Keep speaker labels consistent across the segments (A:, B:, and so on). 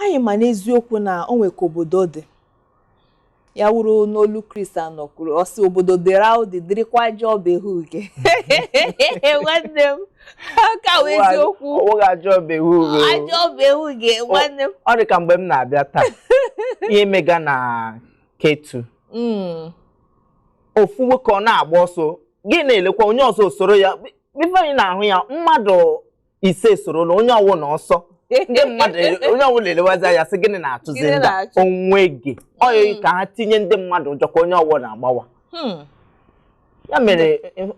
A: Anyị ma n'eziokwu na o nwe ka obodo dị. Ya wụrụ n'olu Kristi anọ kwuru, ọ sị obodo dịrị ahụ dị dịrịkwa ajọ ọba ehu uge. Nwanne m, ka wụ eziokwu. Ọ wụghị ajọ ọba ehu
B: uge. Ajọ ọba
A: ehu uge, nwanne m. Ọ dị ka mgbe m
B: na-abịa taa, ihe mega na Ketu. Mm. ofu nwoke ọ na-agba ọsọ gị na-elekwa onye ọzọ esoro ya before anyị na-ahụ ya mmadụ ise esorola onye ọwụla ọsọ ndị mmadụ onye ọwụla elewazi anya sị gịnị na-achụzi Gịnị ndị a? na-achụ? onweghị ọyị Mm. ka ha tinye ndị mmadụ ụjọ ka onye ọwụla agbawa Hmm. ya mere eh,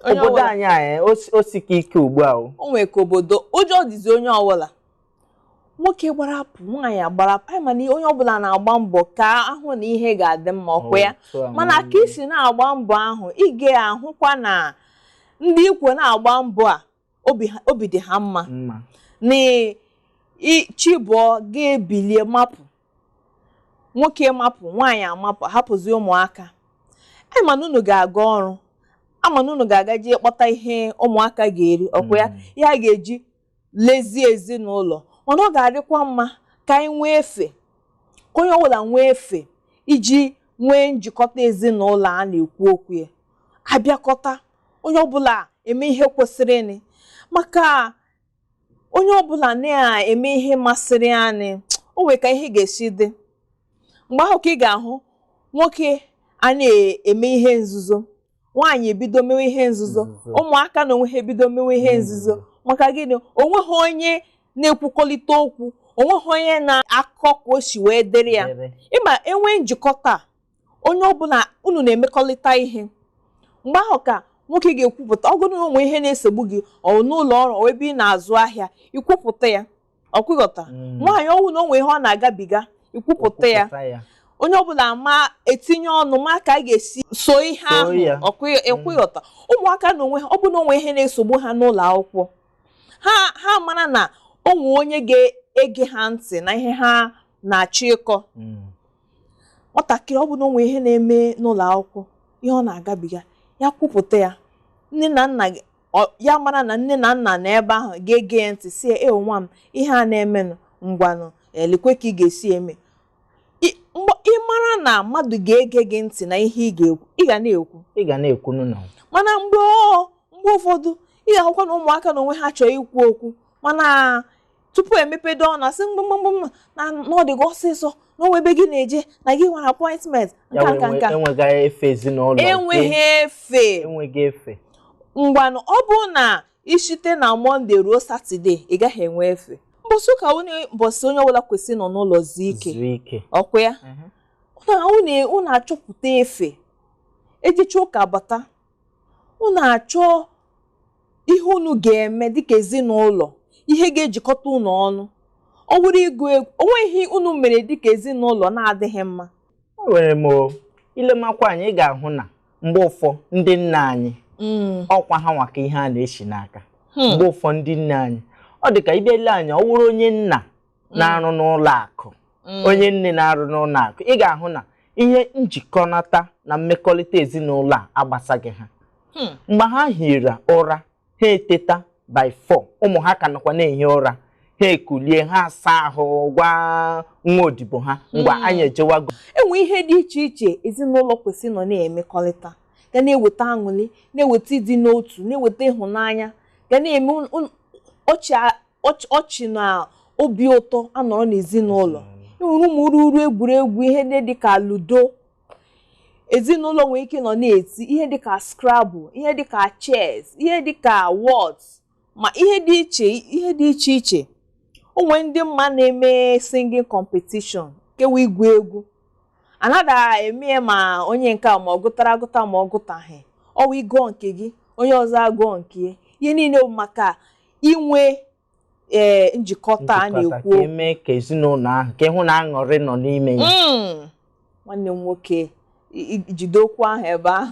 B: Onye obodo ọwụla- anyị anyị o si- o sika ike ugbu a o o nwere ka obodo
A: ụjọ dịzi onye ọwụla nwoke gbarapụ nwaanyị agbarapụ anyị ma na onye ọbụla na-agba mbọ ka a hụ na ihe ga-adị mma ọkwa ya mana ka i si na-agba mbọ ahụ ị ga-ahụkwa na ndị i kwo na-agba mbọ a obi dị ha mma na chi bọọ gị ebilie mapụ nwoke mapụ nwaanyị amapụ hapụzi ụmụaka anyị ma na unu ga-aga ọrụ a ma na unu ga-aga jee kpọta ihe ụmụaka ga-eri ọkwa ya mm. ihe a ga-eji lezie ezinụlọ mana ọ ga-adịkwa mma ka anyị nwee efe ka onye ọbụla nwee efe iji nwee njikọta ezinụlọ a na-ekwu okwu ya abịakọta onye ọbụla eme ihe kwesịrịnị maka onye ọbụla na-eme ihe masịrị anyị o nwere ka ihe ga-esi dị mgbe ahụ ka ị ga-ahụ nwoke a na-eme ihe nzuzo nwaanyị ebido mewe ihe nzuzo ụmụaka na onwe ha ebido mewe ihe nzuzo maka gịnị onweghị onye na-ekwukọrịta okwu onweghị onye na-akọ ka o si wee dịrị ya ma e nwee njikọta onye ọbụla unu na-emekọrịta ihe mgbe ahụ ka nwoke ga-ekwupụta ọ bụrụ o nwe ihe na-esogbu gị ọ n'ụlọ ọrụ ọ ebe ị na-azụ ahịa i kwupụta ya ọkwa ị ghọta Mm. nwaanyị ọ wụ na o nwe ihe ọ na-agabiga ikwupụta ya Kwupụta ya. onye ọbụla ma etinye ọnụ ma ka a ga-esi so ihe So ahụ ya. ọkwụ- ọkwa ị ghọta ụmụaka na onwe ha ọ bụ na o nwe ihe na-esogbu ha n'ụlọ akwụkwọ ha ha mara na o nwe onye ga-ege ha ntị na ihe ha na-achọ ịkọ Mm. nwatakịrị ọ bụ na o nwe ihe na-eme n'ụlọ akwụkwọ ihe ọ na-agabiga ya kwupụta ya nne na nna gị- Ọ- ya mara na nne na nna nọ ebe ahụ ga-ege ya ntị sị ee nwa m ihe a na-emenụ ngwanụ lekwe ka ị ga-esi eme I- mgbe ị mara na mmadụ ga-ege gị ntị na ihe ị ga-ekwu ị ga na-ekwu ị ga na-ekwunu na mana mgbe ọ mgbe ụfọdụ ị ga-ahụkwa na ụmụaka na onwe ha achọọ ikwu okwu mana tupu emepede ọnụ asị mba mba na ọ dị gị ọsịsọ na o nwee ebe gị na-eje na gị nwere appointment nke a nke a nke a enweghị efe ezinụlọ enweghị efe enweghị efe ngwanụ ọ bụ na i shite na mọnde ruo satọde ị gaghị enwe efe mbọsị ụka wụ mbọsị onye ọbụla kwesịrị nọ n'ụlọ zuo ike ọkwa ya mhm. unu achọpụta efe ejecha ụka bata unu achọ ihe unu ga-eme dịka ezinụlọ ihe ga-ejikọta unu ọnụ ọ bụrụ ịgụ egwu o nweghị unu mere dịka ezinụlọ na-adịghị mma enwere
B: m i lemakwa anya ị ga-ahụ na mgbe ụfọ ndị nna anyị hmm. ọkwa ha nwa ka ihe a na-eshi n'aka hmm. mgbe ụfọ ndị nne anyị ọ dị ka ị bịa lee anya ọ wụrụ onye nna na-arụ n'ụlọ akụ onye nne na-arụ n'ụlọ akụ ị ga-ahụ na ihe njikọnata na mmekọrịta ezinụlọ a agbasaghị ha Hmm. mgbe ha hiri ụra ha eteta by 4 ụmụ ha ka nọkwa na-ehi ụra ha ekulie ha asa ahụ gwa nwa odibo ha ngwa Hmm. anyị ejewago e nwee ihe dị
A: iche iche ezinụlọ kwesịrị nọ na-emekọrịta ga na-eweta aṅụrị na-eweta ịdị n'otu na-eweta ịhụnanya ga na-eme un- un- ọchị a- ọch- ọchị na obi ụtọ anọrọ n'ezinụlọ e nwere ụmụ ruru egwuregwu ihe ndị dịka ludo ezinụlọ nwere ike nọ na-eti ihe dịka scrabble ihe dịka chess ihe dịka whot ma ihe dị iche ihe dị iche iche o nwee ndị m ma na-eme singing competition kewa ịgụ egwu anada eme ya ma onye nke a ma ọ gụtara agụta ma ọ gụtaghị ọ wụ ị gụọ nke gị onye ọzọ agụọ nke ya ihe niile bụ maka inwe ee eh, njikọta a na-ekwu ka eme ka ezinụlọ
B: ahụ ka ị hụ na aṅụrị nọ n'ime ya
A: hmm.
B: nwanne m
A: nwoke jide okwu ahụ
B: ebe
A: ahụ